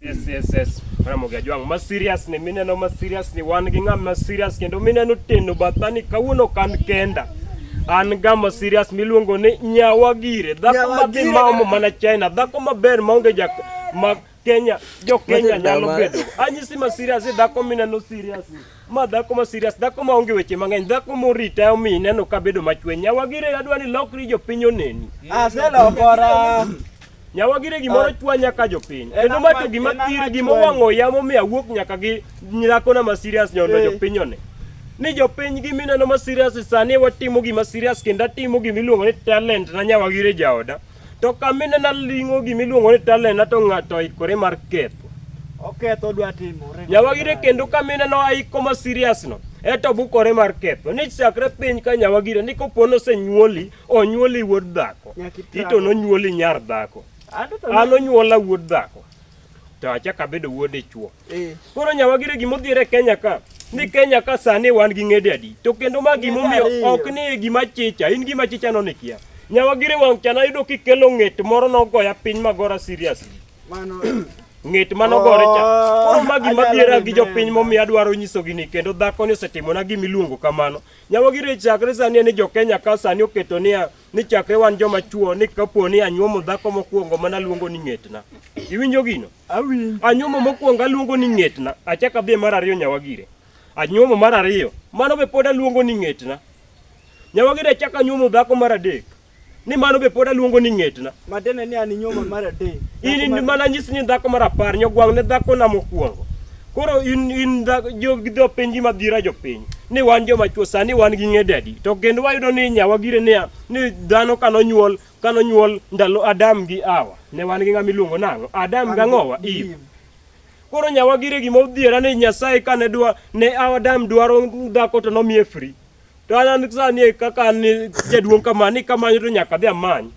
Yes, yes, yes. Ramogi Ajwang' ma serious ni mineno ma serious ni wan gi ng'ama ma serious kendo mineno teno bathani kawuono kan kenda an gama serious miluongo ni nyawa gire dhako madhi maomo mana China dhako maber maonge ja ma Kenya jo Kenya nyalo bedo anyisi ma serious dhako mineno serious ma dhako ma serious dhako ma onge weche mang'eny dhako morita omi ineno ka bedo machwe nyawagire adwa ni lokri jopiny oneni aselokora nyawagire gimoro chwa nyaka jopiny En kendo ma ama- to gima en ama thir gima chwe. owang'o yamo mi awuok nyaka gi dhakona ma serious nyondo Eh. jopiny one ni jopiny gi mineno ma serious sani watimo gima serious kendo atimo gima iluongo ni talent na nyawagire jaoda To kamine naling'o gima iluongo ni talena to ng'ato oikore mar ketho. Oketho dwa timore. Nyawagire kendo kamine no aiko ma serious no. Eto bukore mar ketho ni chakre piny ka nyawagire ni kopo nosenyuoli onyuoli wuod dhako Nyaka itang'. ito nonyuoli nyar dhako Anto to an onyuola wuod dhako to achako abedo wuod dichwo Eh. Koro nyawagire gima odhiere Kenya ka ni Kenya ka sani wan gi ng'ede adi to kendo ma gima omiyo ok ni gima chicha in gima chicha no nikia nyawagire wang' chana yudo kikelo ng'et moro nogoya piny magora serious mano ng'et mano gore cha oh, koro ma gima dhiera gi jopiny momiyo adwaro nyisogi ni kendo dhako ni osetimona gima iluongo kamano nyawagire chakre sani ni jokenya ka sani oketo niya ni chakre wan joma chuo ni kapo ni anyuomo dhako mokwongo mana luongo ni ng'etna iwinjo gino Awinjo. Anyuomo mokwongo aluongo ni ng'etna, achak adhi mar ariyo nyawagire. Anyuomo mar ariyo, mano be pod aluongo ni ng'etna. Nyawagire achak anyuomo dhako mar adek, ni mano be pod aluongo ni ng'etna. Madene ni an inyuomo mar adek. In in mana nyis ni dhako mar apar nyogwang' ne dhako na mokwongo. Koro in in dhako jogi dho penji madhira jopiny ni wan joma chwo sani wan gi ng'edadi to kendo wayudo ni nyawagire ni ni dhano kanonyuol Ka nonyuol ndalo Adam gi Hawa, ne wan gi ng'ama iluongo nang'o? Adam gi ang'owa? Eve. Koro nyawagire gima odhiera ni Nyasaye kane dwa ne Adam dwaro dhako to nomiye free. To an an sani e kaka an ni jaduong' kama ni kamanyo to nyaka adhi amany.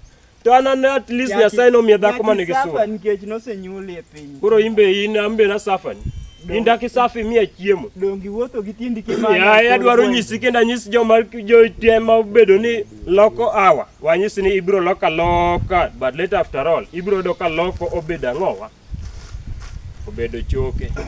To an an at least Nyasaye nomiye dhako ma nigi Safa sura. nikech nosenyuoli e piny. Koro in be in an be nasafani. In dak isafi miya chiemo. Dongi wuotho gi tindi kimanyo. Yaye adwaro nyisi kendo anyis joma jotema obedo ni loko awa. Wanyisi ni ibiro loka loka but later after all ibiro doka loko obedo ang'owa obedo choke.